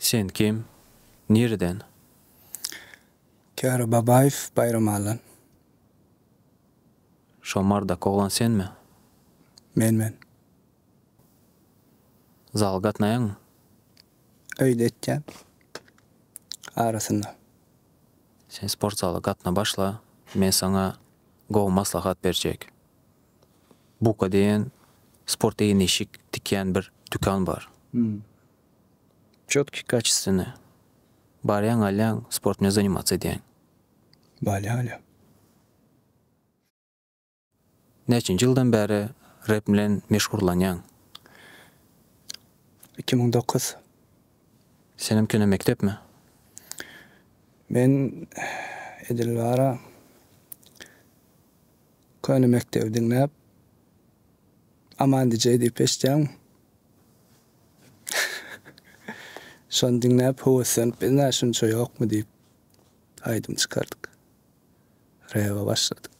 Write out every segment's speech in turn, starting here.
Sen kim? Nireden? Kära Babaýew Baýram Allan. Şo mardak oglan senmi? Men men. Zala gatnaýaňmy? Öýde etýän. Arasynda. Sen sport zala gatna başla, men saňa gowy maslahat berjek. Buka diýen sport egin-eşik tikýän bir dükan bar. Çotky, kaçestwennä. Barýaň, alýaň, sportmne zanimats edýäň. Barýan alýan. Näçenji ýyldan bäri rep bilen meşgurlanýaň? Iki müň dokuz. Senem kino mekdepmi? Men edil bara köne mekdebi diňläp Aman DJ diýip eşitýäň. Şony diňläp höweslenip bilna şunça ýokmy diýip aýdym çykardyk. Rewä başladyk.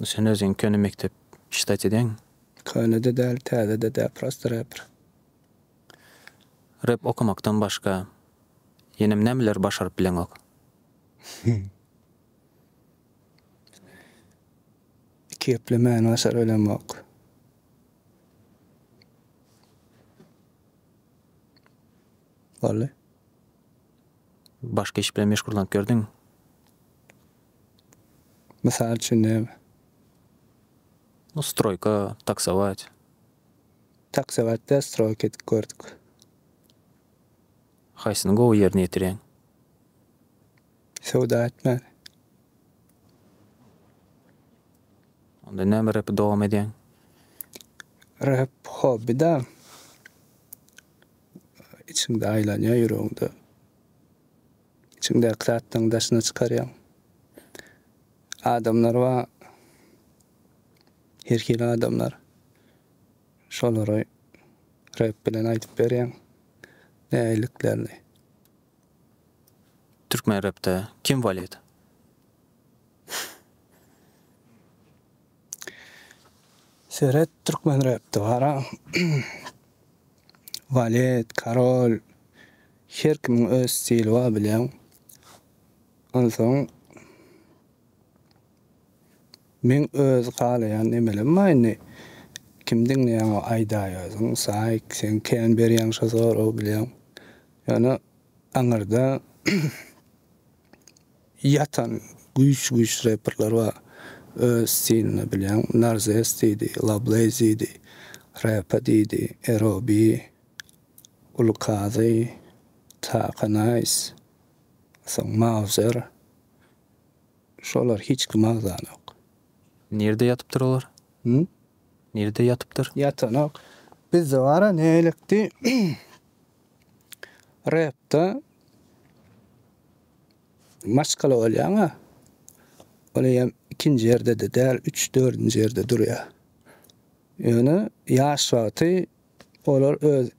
Sen özüň köne mekdep ştat edeň. Köne-de däl, täze-de däl, prosta repr. Rep okamakdan başga ýenem nämeleri başaryp bileňok? Iki geplemäni başaryp bilemok. Boldy. Başga iş bilen meşgullanyp gördüňmi? Mysal üçin näme? No stroýka, taksować. Taksować däl stroýka edip gördük. Haýsyny gowy ýerine ýetirýäň? Söwda etmäni. Onda näme repi dowam edýäň? Rep hobby da. içiňde aýlanýar ýüregiňde. Içiňdäki zatlaryňy daşyna çykarýaň. Adamlar bar. Her hili adamlar. Şolary rep bilen aýdyp berýäň. Nägiliklerini. Türkmen repde kim walýet? Seret türkmen repde bara Valet, Karol her kimiň öz stili bar bilýäň. Onsoň Men öz halaýan nemelem bar indi. Kim diňleýäň o aýdaý özüň saýk sen kän berýäň şo soragy bilýäň. Ýöne aňyrda Ýatan güýç güýç reperler bar öz stilinde bilýän Narzes diýdi Lableyz diýdi Repa diýdi Erobi Uly Kazy Taka Naýs soň Mauzer şolar hiç kim agzanok. Nirde ýatypdyr olar? Hum? Nirde ýatypdyr? Ýatanok. Bizde bara näletti. Repde maşgala bolýaň-a. Ol eýýäm ikinji ýerde-de däl, üç, dördünji ýerde durýar. Ýöne ýaş wagty olar öz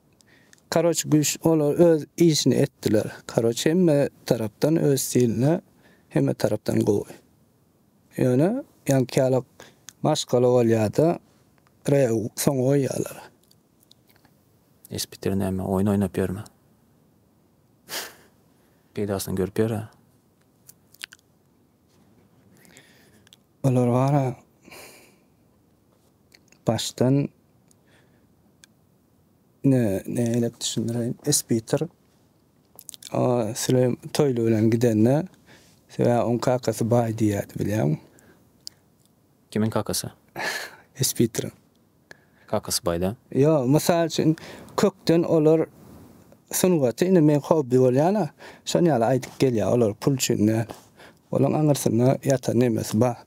Karoç güýç olar öz işini etdiler. Karoç hemme tarapdan öz stilinde hemme tarapdan gowy. Ýöne ýaňky ýaly maşgala bolýar-da, Rew soňa goýýarlar. Iş bitir näme, oýun oýnap ýörme. Peýdasyny görüp ýör-ä. Olar bar-a, başdan ne, neýläp düşündireýin, iş bitir, o Süleý Toýly bilen gidende, sebä oň kakasy baý diýýärdi, bilýäňmi? Kimiň kakasy? Iş bitiriň. Kakasy baýda. Ýok, mysal üçin, kökden olar sungaty, indi meň hobbi bolýan-a, şon ýaly aýdyp gelýär, olar pul üçin däl. Olaň aňyrsynda ýatan nemesi bar.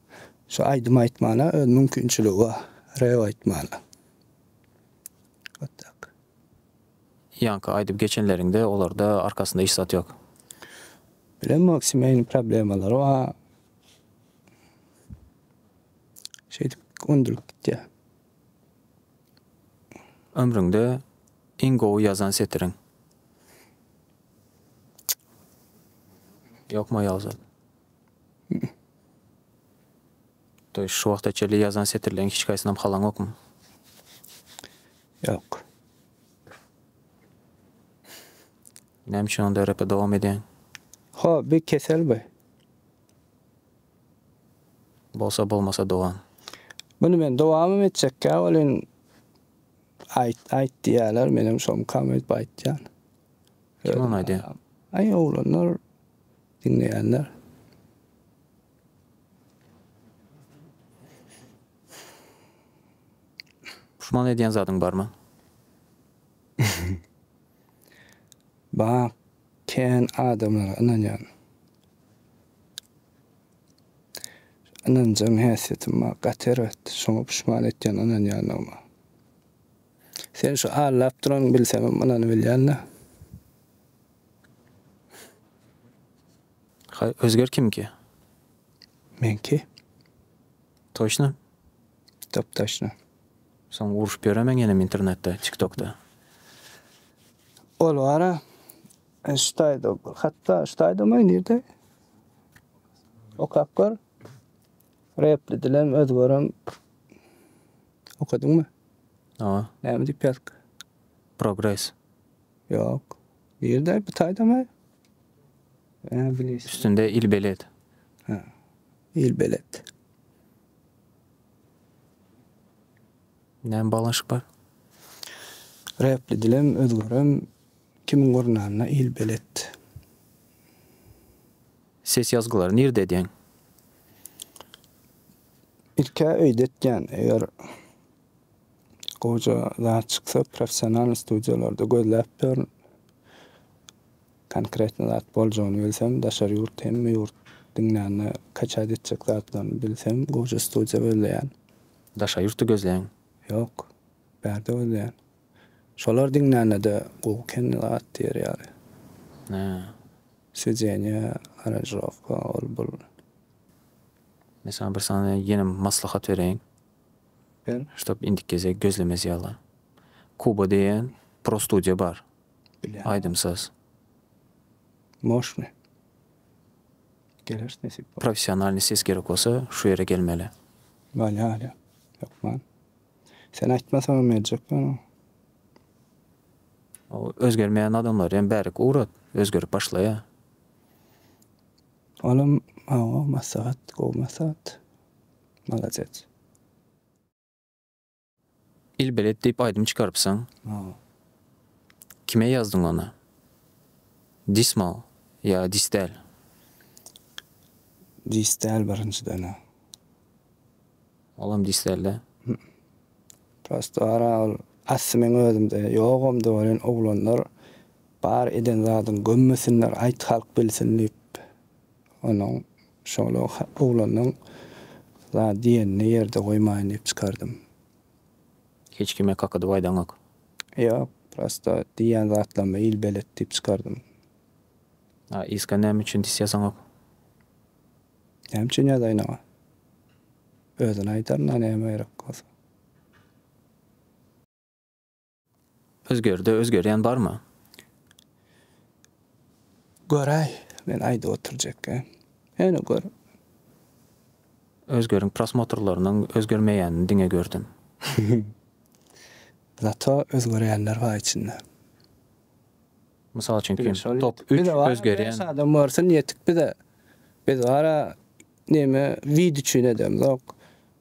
Şu aýdym aýtmana öz mümkinçiligi bar, rep aýtmana. Wot tak. Ýaňky aýdyp geçenleriňde olarda arkasynda hiç zat ýok. Bilemok, semýaýyň problemalary bar. Şeýdip öndürip gitýär. Ömrüňde iň gowy ýazan setiriň? Ýokmy aýal zat? Toý şu wagta çenli ýazan setirleriň hiç haýsynam halaňokmy? Ýok. Näme üçin onda repe dowam edýäň? Hoby, kesel bu. Bolsa bolmasa dowam. Muny men dowamam etjekkä welin aýt aýt diýýäler menem şomkam öýdüp aýtýan. Kim ony aýdýa? Aý oglanlar diňleýänler. Puşman edýän zadyň barmy? Bak. Kän adamlara ynanýan. Ynanjaň häsiýetim bar, gaty erbet. Şoňa puşman etýän ynanýandygyma. Sen şu allap duranyňy bilsemem ynanybilýän-dä. Ha, Özger kimki? Meňki. Toşna? Dop-daşna. Soň urşup ýöremen ýenem internetde, tiktokda. Ol bara ştaýdo bir hatda ştaýdomy nirde okap gör repli dilem öz görem okadyňmy? Hawa. Näme diýip ýazyk? Progres. Ýok. Nirde bu taýdama? Üstünde ilbelet. Ha. Ilbelet. Näme baglanyşyk bar? Räpli dilem, özgerem, kimiň gurnanyna il belet. Ses ýazgylary nirde edýäň? Ilk-ä öýde etýän, eger gowja zat çyksa professionalnyý studiýalarda gözläp ýörün. Konkretno zat boljagyny bilsem daşary ýurt hemme ýurt diňlände kaçat etjek zatlaryny bilsem goja studiýa gözleýän. Daşary ýurtda gözleýäň? Ýok. Bärde gözleýän. Şolar diňlänede gowy kän zat diýer ýaly. Hä. Swedeniýa, aranžirowka, ol bul. Men saňa bir sany ýene maslahat bereýin. Ber. Ştob indiki gezek gözlemez ýaly. Kuba diýen pro studiýa bar. Bile. Aýdym saz. Moşny. Geler nesip bolsa. Professionalny ses gerek bolsa şu ýere gelmeli. Bale ale. Hökman. Sen aýtmasaňam geljek ýöne. O özgermeýän adamlary hem bärik ugrat, özgerip başlaýar. Olam maňa maslahat, gowy maslahat. Maladec. Il belet diýip aýdym çykarypsyň. Kime ýazdyň ony? Dismal ýa dis däl? Dis däl birinjiden-ä. Olam dis däl-dä. Prosto gara ol asly meň özümde ýogam-da welin oglanlar bar eden zadyň gömmesinler aýt halk bilsin diýip onuň Şol oglanyň zat diýenini ýerde goýmaýyn diýip çykardym. Hiç kime kakadyp aýdaňok. Ýok, prosta diýýän zatlaryma il belet diýip çykardym. A yska näme üçin dis ýazaňok? Näme üçin ýazaýyn-a? Özüne aýdaryn-a näme gerek bolsa. Özgerde özgerýän barmy? Göräý, men aýdyp oturjekkä. Hany gör. Özgeriň prosmotrlarynyň özgermeýänini diňe gördüm. Zato özgerýänler bar içinde. Mysal üçin kim? Top üç özgerýän. Beş adam görsün ýetik bize. Biz gara neme wid üçin edemzok.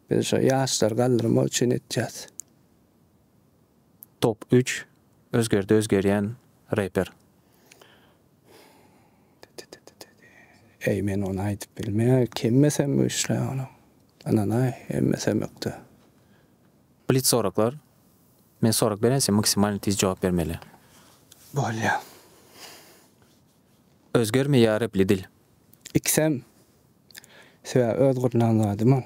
Biz şo ýaşlary galdyrmak üçin etýäs. Top üç özgerdi özgerýän reper. Eý men ony aýdyp bilmeýär kemmesem güýçli ony ynanaý hemmesem ökde. Blitz soraklar Men sorak beren sen maksimalny tiz jogap bermeli. Bolýa. Özgermeýä repli dil. Ikisem. Sebäbi öz gurnan zadym ol.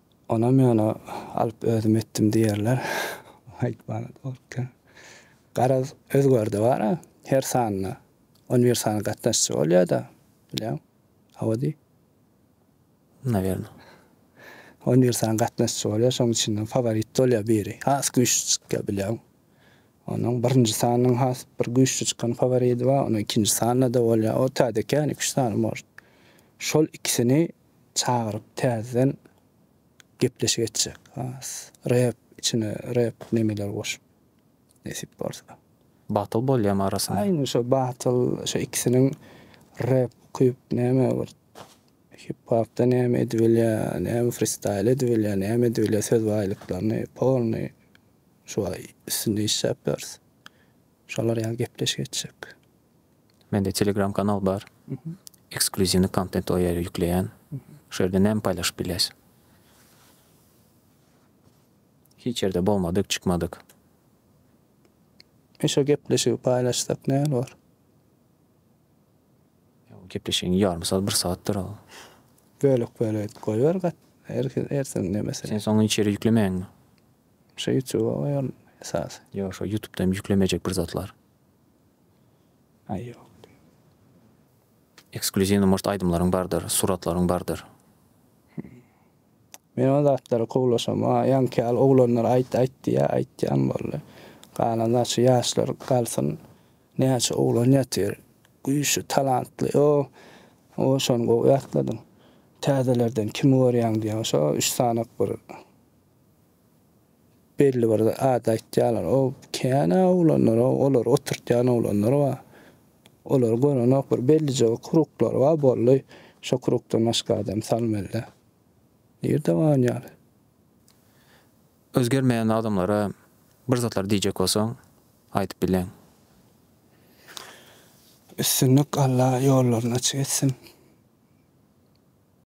Onam ýöne alyp özüm etdim diýerler. Aýtmana dogruka. Garaz, özgerde bar-a, her sanda on bir sany gatnaşyjy bolýar-da, bilýäň? Hawa diý. Nawerno. On bir sany gatnaşyjy bolýar, şonuň içinden faworit bolýar biri, has güýçli çykýar, bilýäň? Onuň birinji sanynyň has bir güýçli çykan faworidi bar, onuň ikinji sanynda-da bolýar, o täzekä, ýöne iki-üç sany, может. Şol ikisini çagyryp täzeden gepleşik etjek has rep içine rep nemeler goşup nesip bolsa. Battle bolýamy arasynda. Aýna şo battle şo ikisiniň rep okyp näme bir hip hopda näme edibilýä näme fristaýl edibilýä näme edibilýä söz baýlyklaryny polnyý şuba üstünde işläp ýörüs şolar ýaly gepleşik etjek. Mende telegram kanal bar. Ekskluziwny kontent o ýere ýükleýän. Şu ýerde näme paýlaşyp bilýäs? Hiç ýerde bolmadyk, çykmadyk. Şu gepleşigi paýlaşsak näme bolar? Gepleşigiň ýarymy sagat, bir sagatdyr ol. Bölek bölek edip goýber gat. Her hersiň näme sen. Sen soň hiç ýere ýüklemäňmi? Şu ýutube goýaryn esasy. Ýok şu ýutubda hem ýüklemejek bir zatlar. Ekskluziwnyý murt aýdymlaryň bardyr, suratlaryň bardyr. Men o zatlara kowlaşam maňa ýaňky ýaly oglanlar aýt aýt diýýär aýtýan boldy galan zat şu ýaşlar galsyn näçe oglan ýatyr güýçli talantly o o şony gowy ýatladyň täzelerden kimi görýäň diýýän şo üç sanak bir Belli bir zat aýtýarlar, o känä oglanlar-a, olary oturtýan oglanlar bar. Olary görenok, bir bellije bir kruglary bar, boldy. Şo krugdan başga adam salmaly-da. Nirde baryn ýaly? Özgermeýän adamlara bir zatlar diýjek bolsaň, aýdyp bileň. Üstünlik Alla ýollaryny açyk etsin.